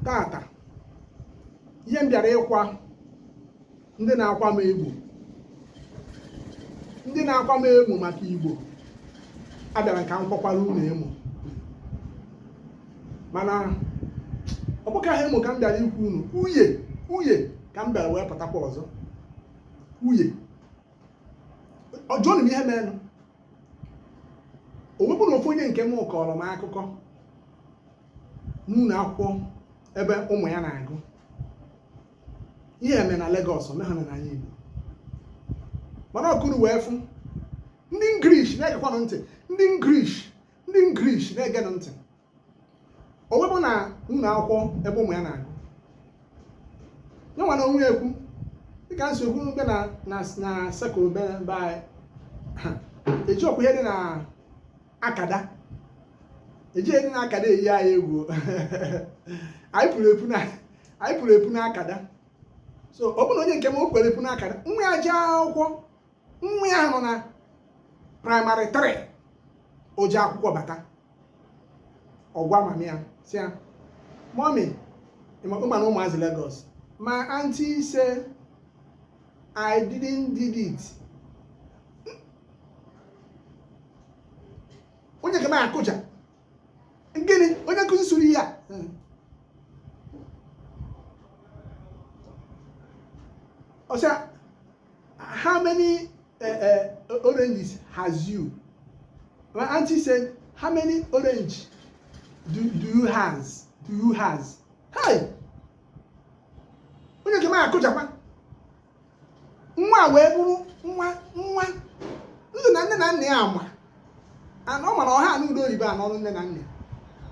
tata ihe m bịara ịkwa ndị na-akwa m egwu ndị na-akwa m emo maka igbo abịara ka m kwakwara unu emo mana ọ bụka ha emo ka m bịara ikwu unu uye uye ka m bịara wee pụtakwa ọzọ uye ọjọọ na ihe merenụ o wee bụ na ofu onye nke m kọrọ m akụkọ n'ụlọ akwụkwọ ebe ụmụ ya na-agụ ihe eme na Lagos ome ha na n'ana Igbo mana ọkụrụ wee fụ ndị ngrish na-egekwanụ ntị ndị ngrish ndị ngrish na-egenụ ntị o wee bụ na ụlọ akwụkwọ ebe ụmụ ya na-agụ ya nwa na onwe ya ekwu dịka nsogbu be na na na sekụl be be anyị ha eji ọkwa ihe dị na akada eji ihe dị n'akada eyi anyị egwu anyị puru epu na anyị puru epu n'akada so ọ bụrụ na onye nke m o kwere epu n'akada nwa ya jee akwụkwọ nwa ya nọ na praịmarị 3 o ji akwụkwọ bata ọ gwa mami ya sị ya mọmi ị ma na ụmụazị Lagos my auntie say I didn't did it onye nke m akụja gịnị onye nkuzi sụrụ ihe a hmm. ọ sị ya how many uh, uh, oranges has you my auntie said how many orange do, do you has do you has hey onye nke m akụjakwa nwa wee bụrụ nwa nwa ndụ na nne na nna ya ama and ọ mara ọ ha anụ ụdị oyibo a n'ọnụ nne na nna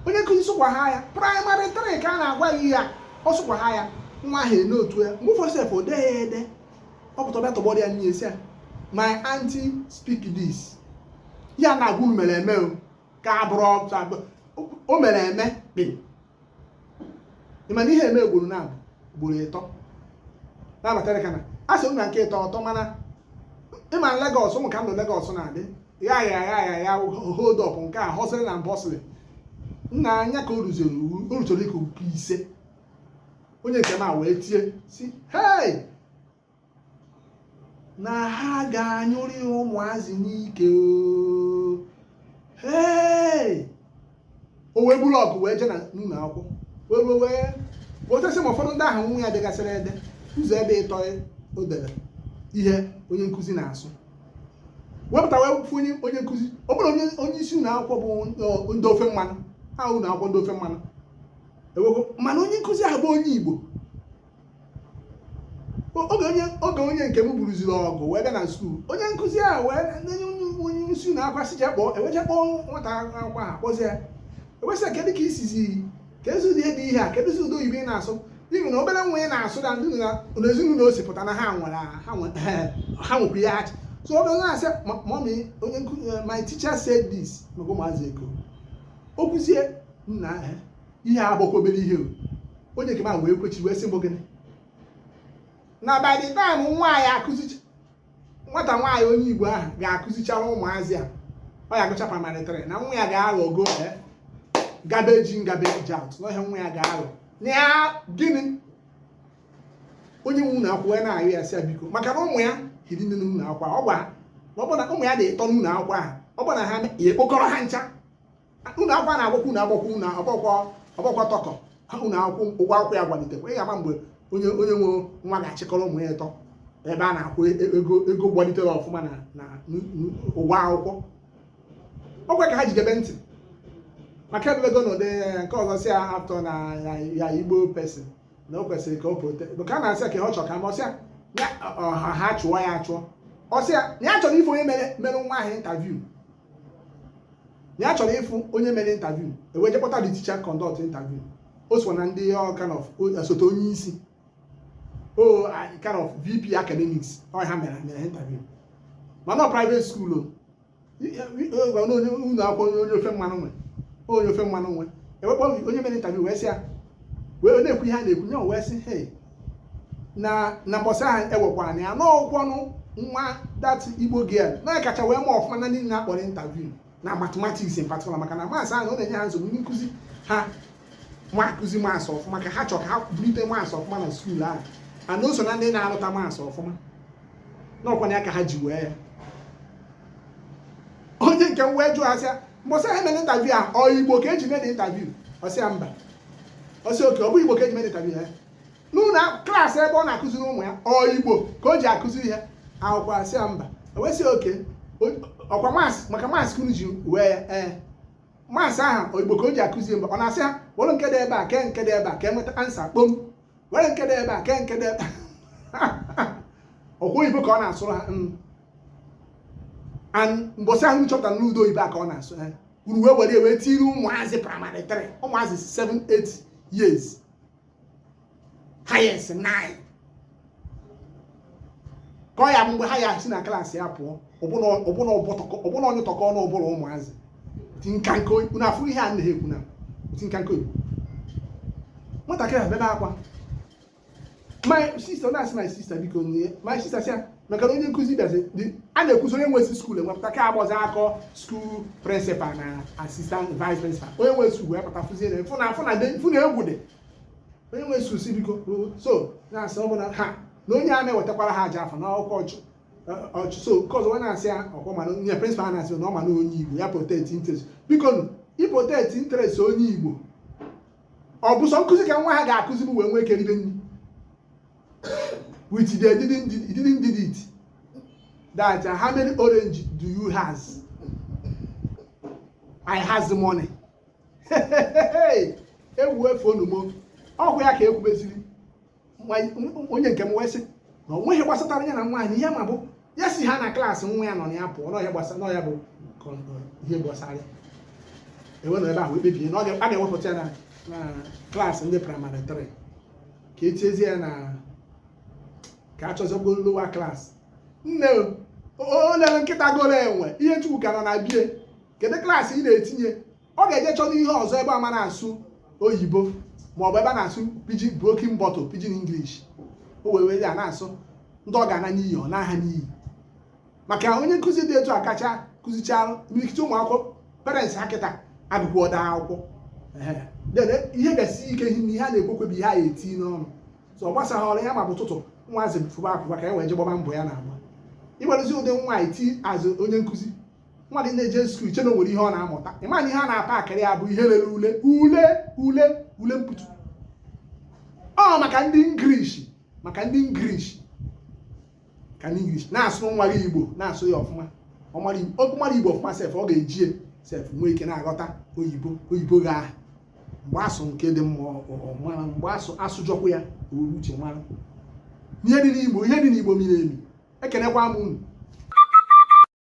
onye nkuzi sụkwa ha ya praịmarị trị ka a na-agwa gị ya ọ sụkwa ha ya nwa ahụ note ya mgbe ụfọdụ sef o dee ya ede o bute bịa tọgbọrọ ya n'ihu sị ya my aunty speak this ihe a na-agwa unu mere eme ka abụrụ o mere eme kpị ị ma na ihe mee ugboro naabọ ugboro ịtọ na-abatara ka na a sịrị na nke ịtọ ọ tọ mana ị ma na Lagos ị ma ka ndụ Lagos na-adị ya ya ya ya ya hold up nke a hustle na bustle nna anya ka o ruziri iwu o rutere nke ise onye nke m a wee tie sị hei na ha ga-anyụrị ụmụazị n'ike o wee buru ọgụ wee jee n'ụlọ akwụkwọ wee wee wee wotesi ma ụfọdụ ndị ahụ nwa ya degasịrị ede ụzọ ebe ịtọ o dere ihe onye nkụzi na-asụ wepụta wee fụ onye onye nkụzi ọ bụrụ onye onye isi ụlọ akwụkwọ bụ ndị ofe mmanụ ha ụlọ akwụkwọ ndị ofe mmanụ nwe mana onye nkụzi ahụ bụ onye Igbo oge onye nke m buruziri ọgụ wee bịa na skuul onye nkụzi ahụ wee onye isi ụlọ akwụkwọ sị je kpọọ e wee je kpọọ nwata akwụkwọ ahụ kpọzie ya e wee sị ya kedu ka i sizi ka ezi ụdị ebe ihe a keduzi ụdị oyibo ị na-asụ ibi na obere nwa ị na-asụ na ndị na ezinụlọ o si pụta na ha nwere ha nwekwa ihe achị so ọ bụrụ na-asị mọmi onye nkụzi my teacher said this maka ụmụazị Eko o kwuzie nna ahụ ihe a bụkwa obere ihe o. onye nke m ahụ wee kwechi wee sị ọ bụ gịnị na by the time nwaanyị akụzicha nwata nwaanyị onye igbo ahụ ga-akụzichara ụmụazị a ọ ya agụcha praịmarị trị na nwa ya ga-aghọgo eh, garbage in garbage out na ọ ihe nwa ya ga-aghọ na ya gịnị onye nwe ụlọ akwụkwọ ya na-arịọ ya sị ya biko maka na ụmụ ya hiri nne n'ụlọ akwụkwọ a, ọkwa ọ bụ na ụmụ ya dị ịtọ n'ụlọ akwụkwọ ahụ ọ bụ na ha ya ekpokọrọ ha ncha ụlọ akwụkwọ na-agbakwa ọnụ agbakwa ọnụ agbakwa ọgbakwa tọkọ ụlọ akwụ ụgwọ akwụkwọ ya gbalitekwa ị ga-ama mgbe onye onye nwe nwa ga-achịkọrọ ụmụ ya ịtọ ebe a na-akwụ e, ego ego gbalitere ọfụma na na ụgwọ akwụkwọ ọkwa ka ha jidebe ntị maka ebelego na ụdị nke ọzọ si ya atọ na ya igbo person na o kwesịrị ka ọ protect ka a na-asị ka ọ chọrọ ka ma ọ sị ha chụọ ya achụ ọ sị ya na ya chọrọ ịfụ onye mere mere nwa ahụ interview na ya chọrọ ịfụ onye mere interview e wee je kpọta the teacher conduct interview o so na ndị ọ kind of o- osote onye isi o a- kind of vp academics ọ ha mere mere ha interview mana ọ private school ọkwa na onye ụlọ akwụkwọ onye onye ofe mmanụ nwe onye ofe mmanụ nwe e wee kpọọ onye mere interview wee sị ya wee na-ekwu ihe a na-ekwu nye wee sị hei na na mbọsị ahụ e wekwanụ ya na ọkwanụ nwa that igbo girl a kacha wee mee ọfụma na ndị a kpọrọ interview na mathematics in particular maka na maasị ahụ ọ na-enye ha nsogbu ndị nkụzi ha amaa akụzi maasị ọfụma ka ha chọ ka ha bulite maasị ọfụma na skuul ahụ na o so na ndị na-arụta maasị ọfụma na ọkwanụ ya ka ha ji wee ya onye nke m wee jụọ sị ya mbọsị ha mere interview a ọ igbo ka e ji mere interview a sị ya mba ọ sị okay ọ bụ igbo ka e ji mere interview ya n'ụlọ klaasị ebe ọ na-akụziri ụmụ ya ọ igbo ka o ji akụzi ihe akwụkwọ a sị ya mba o wee sị okay ọkwa maasị maka maasị ka unu ji wee ya ee maasị ahụ igbo ka o ji akụzi mba ọ na-asị ya were nke dị ebe a kee nke dị ebe a ka e nweta ansa kpom were nke dị ebe a kee nke dị ebe ọkwa oyibo ka ọ na-asụrụ ha mm. mbọsị ahụ chọpụta n'ụdị oyibo a ka ọ na-asụ ha uru wee were wee tiri ụmụazị praịmarị 3 ụmụazị 7 8 years highest 9 kọọ ya mgbe ha ya si na klaasị ya pụọ ọbụna onye tọkọ ọnụ ọbụla ụmụazị tinkanka na afụ ihe a na-ekwu na tinkanka oyibo nwatakịrị ebebe akwa my sister na-asị my sister biko nye my sister sị ya maka na onye nkụzi bịazi a na-ekwuzi onye nwezi skuul wee pụta ka a kpọzi a kpọọ skuul prịnsịpal na assistant vice prịnsịpal onye nwezi skuul wee pụta fụzie na fụ na egwu dị onye nwe skuul sị biko so na-asị ọ bụ na ha na onye a na-ewetakwara ha ajọ afa na ọkwa ọchụ ọchụ so nke ọzọ wee na-asị ya ọkwa ma na onye prịnsịpal a na-asị na ọ ma na onye igbo ya protect interest biko nụ iprotect interest onye igbo ọ bụ sọ nkụzi ka nwa a ga-akụzi m wee nwee ike ribe nri with the didn't did- didn't did it that uh, how many orange do you has i has the money ewu efu onumo ọ bụ ya ka e kwubeziri onye nke m wee sị na o nweghị ihe gbasatara ya na naanị ihe ọ ma bụ ya si ha na klaasị nwa ya nọ na ya pụọ na ọ ya gbasara na ọ ya bụ ihe gbasara ya e wee nọ ebe ahụ kpebie na a ga-ewepụta ya na klaasị ndị praịmarị 3 ka e tiezie ya na ka a chọzie lowa klaasị nne onye lere nkịta goro enwe ihe ntukwu ka nọ na be ya kedu klaasị ị na-etinye ọ ga-eje chọta ihe ọzọ ebe ọ ma na-asụ oyibo ma ọ bụ ebe a na-asụ pidgin broken bottle pidgin english o wee were ya na-asụ ndị ọ ga-ana n'iyi ọ na-ana n'iyi maka onye nkụzi dị etu a kacha kụzichara imirikiti ụmụ akwụkwọ parents ha kịta agụkwụ ọda akwụkwọ ihe ga-esi ike ihe na ihe a na-ekwekwe bụ ihe a eti n'ọnụ so ọ gbasaghị ọrụ ya ma ọ bụ ụtụtụ nwaazị fụba akwụkwọ ka e wee je gbaba mbọ ya na-agba ịgbarụzi ụdị nwa iti azụ onye nkụzi nwa gị na-eje skuul che na o nwere ihe ọ na-amụta ị ma na ihe a na-apa akịrị ya bụ ihe lere ule ule ule ule mputu ọ maka ndị english maka ndị english ka ndị english na-asụ nwa gị igbo na-asụ ya ọfụma ọ mara igbo ọfụma sef ọ ga-eji ya sef nwee ike na-aghọta oyibo oyibo gị ahụ mgbe a sụ nke dị mma ọ mara mgbe a sụ a sụjọkwa ya were uche mara ihe dị n'igbo ihe dị n'igbo miri emi ekenekwa m unu